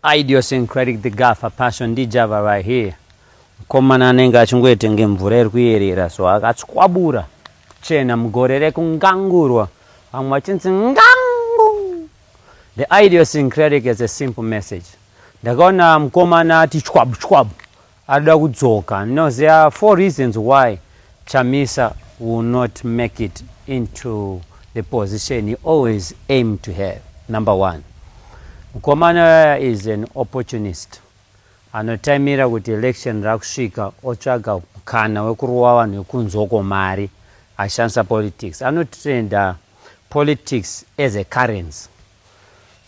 idiosyncratic the gafa passion ndijava right here mukomana anenge achingoita kunge mvura iri kuyerera so akatswabura chena mugore rekungangurwa vamwe vachinzi ngangu The idiosyncratic is a simple message. Ndakaona mkomana ati chwabu chwabu arida kudzoka. No, there are four reasons why Chamisa will not make it into the position he always aimed to have. Number one, mkomana is an opportunist. Anotaimira kuti election rakusvika otsvaga mkana wekurowa vanhu vekunzoko mari ashandisa politics. Anotrenda Politics as a currency.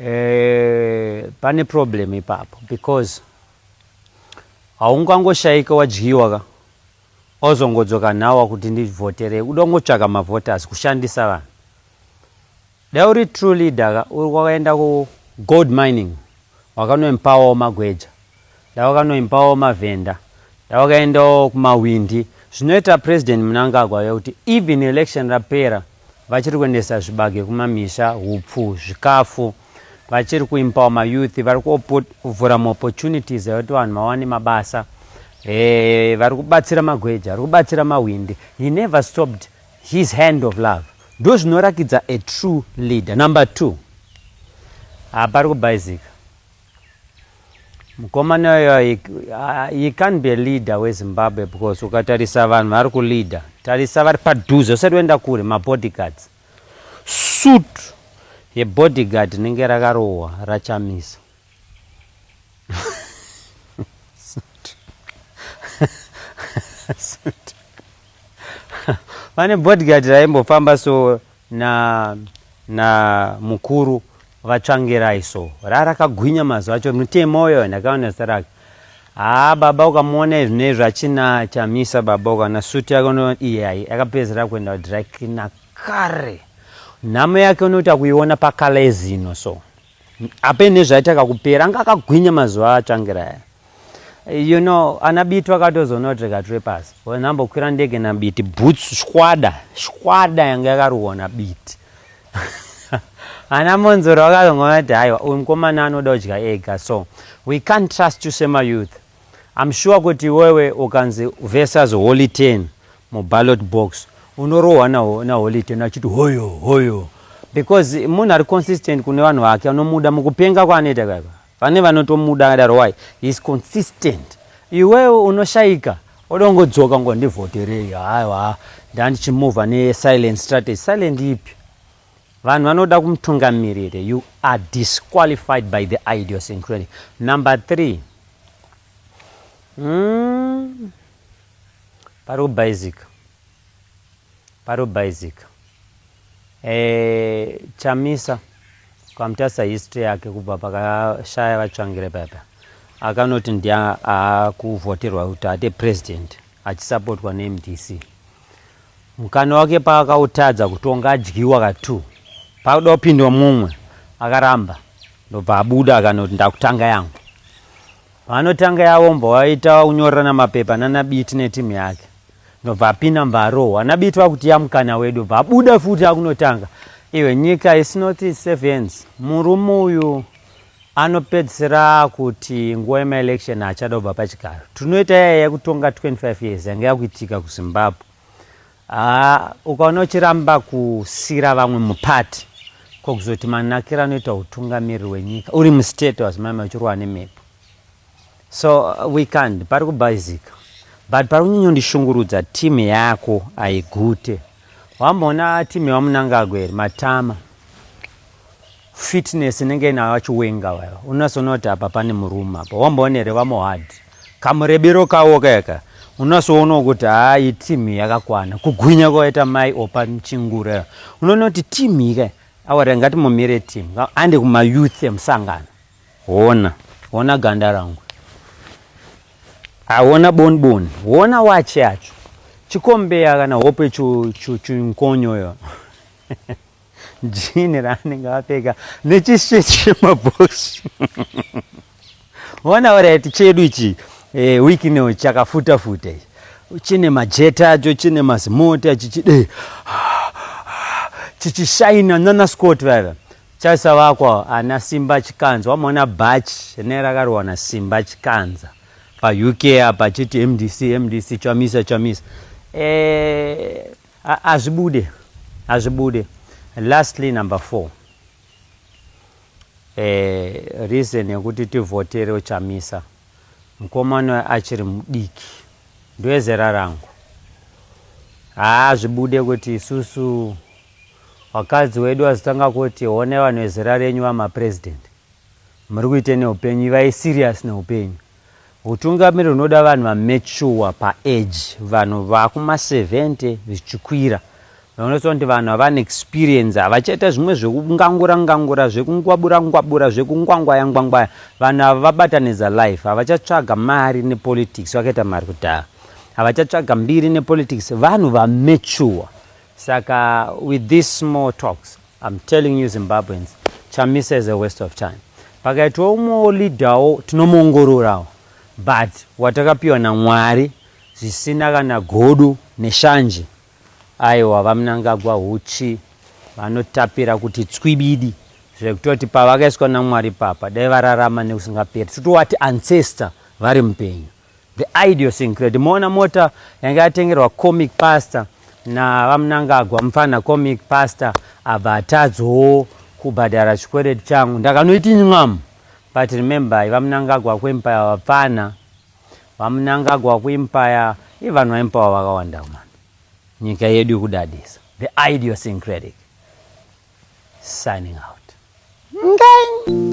Eh, pane problem ipapo because haungangoshaika wadyiwa ka ozongodzoka nhawa kuti ndivhoterei uda kungotsvaka mavhoters kushandisa vanhu dai uri true leader ka uri kwakaenda kugold mining wakanoempawawo magweja Ndawakanoimbawo mavenda ndawakaendawo kumahwindi zvinoita president Mnangagwa vekuti even election rapera vachiri kuendesa zvibage kumamisha hupfu zvikafu vachiri kuimpawa mayouth vari kuvhura maopportunities ekuti vanhu vawane mabasa eh, vari kubatsira magweja vari kubatsira mahwindi he never stopped his hand of love ndo zvinorakidza a true leader number two hapari kubhaizika Mukomana uyo he, he can't be a leader weZimbabwe because ukatarisa vanhu vari kuleader, tarisa vari padhuze, usati waenda kure, mabodyguards. Suit yebodyguard rinenge rakarohwa raChamisa. Pane bodyguard raimbofamba so na na mukuru vatsvangirai so rarakagwinya mazuva acho mutemo uyo ndakaona zita rake haa baba ukamuona izvi nezvi achina chamisa baba ukaona suti yake uno iyayi akapedzera kuenda kudry cleaner kare nhamo yake unoita kuiona pakalezino so ape nezvaita kakupera anga akagwinya mazuva atsvangira aya you know ana biti vakatozonotreka tiri pasi nambokwira ndege nabiti boots shwada shwada yanga yakaruwa nabiti ana monzoro vakazongonati haiwa uyu mukomana anoda kudya ega so we can't trust you semayouth I'm sure kuti iwewe ukanzi versus holy ten muballot box unorohwa naholy ten achiti hoyo hoyo because munhu ari consistent kune vanhu vake anomuda mukupenga kwaanoita kaiva vane vanotomuda akadaro why heis consistent iwewe unoshaika odongodzoka ngo ndivhoterei aiwa ndandichimuvha nesilent strategy silent ipi Vanhu vanoda kumutungamirire you are disqualified by the idiosyncratic. Number three, mm, pari kubhaizika pari kubhaizika e, chamisa ukamutarisa history yake kubva pakashaya vatsvangire papa akanoti ndiye akuvhoterwa kuti ate president achisapotwa nemdc Mukana wake paakautadza kutonga adyiwa ka two pakuda kupindwa mumwe akaramba ndobva abuda akanoti ndakutanga yangu. Paanotanga yavo mbva waita kunyorerana mapepa nana Biti neteam yake ndobva apinda mbva arohwa naBiti vakutiya mukana wedu bva abuda futi akunotanga iwe nyika is not safe hands murume uyu Anopedzisira akuti nguva yemaelection haachada kubva pachigaro. Tinoita yaya yekutonga 25 years yanga yakuitika kuZimbabwe. Haa ukaona uchiramba kusira vamwe mupati ko kuzoti manakira anoita utungamiriri wenyika uri mustate wazimama uchirwa nemhepo so uh, we can't pari kubhaizika but pari kunyanyondishungurudza team yako aigute wamboona team yevamunangagwa here matama Fitness inenge inayo chiwenga wayo. Unasoona kuti apa pane murume apa. Wamboona here vamohad. Kamurebiro kawo kaka. Unasoona kuti haa iyi team yakakwana. Kugwinya kwaita mai opa chingura. Unoona kuti team ika. Awara ngati mumire team. Ande kuma youth emusangano. Hona. Hona ganda rangu. Hona boni boni. Hona wachi yacho. Chikombeya kana hope chunkonyo yo. jini raanenge apfeka nechishirt chemabox ona orit chedu ichi e, wiki ino chakafuta futa ichi chine majeta acho chine mazimoti achichide chichishaina nana scott vaiva chaisa vakwa ana simba chikanza wamona bhachi ne rakarohwa na simba chikanza pauk apa chiti mdc mdc chamisa chamisa e, Hazvibude, hazvibude. Lastly number four. Eh, reason yekuti tivhotere uchamisa mukomana achiri mudiki ndoezera rangu haa zvibude kuti isusu vakadzi wedu vazotanga kuti one vanhu vezera renyu vamapresident muri kuite neupenyu ivai serious neupenyu Hutungamiri hunoda vanhu vametshuwa paeji, vanhu vakuma 70 zvichikwira. Vanoisa kuti vanhu havana experience, havachaita zvimwe zvekungangura ngangura, zvekungwabura ngwabura, zvekungwangwaya ngwangwaya. Vanhu ava vabatanidza life, havachatsvaga mari nepolitics, vakaita mari kudhaya. Havachatsvaga mbiri nepolitics, vanhu vametshuwa. Saka with these small talks, I'm telling you Zimbabweans, Chamisa is a waste of time. Pakaitwa umwewo leader wo tinomuongororawo but watakapiwa naMwari zvisina kana godo neshanje. Aiwa vaMnangagwa huchi vanotapira kuti tswibidi zvekutoti pavakaiswa naMwari papa dai vararama nekusingaperi totowati ancestor vari mupenyu. The Idiosyncrate. Moona mota yanga yatengerwa comic pastor naVaMnangagwa mfana comic pastor abva atadzowo kubhadhara chikwereti changu ndakanoiti nyam but remember i VaMnangagwa wakuempire vapfana VaMnangagwa wakuempire i vanhu vaempire vakawanda man nyika yedu yokudadisa the idiosyncratic signing out Ngang.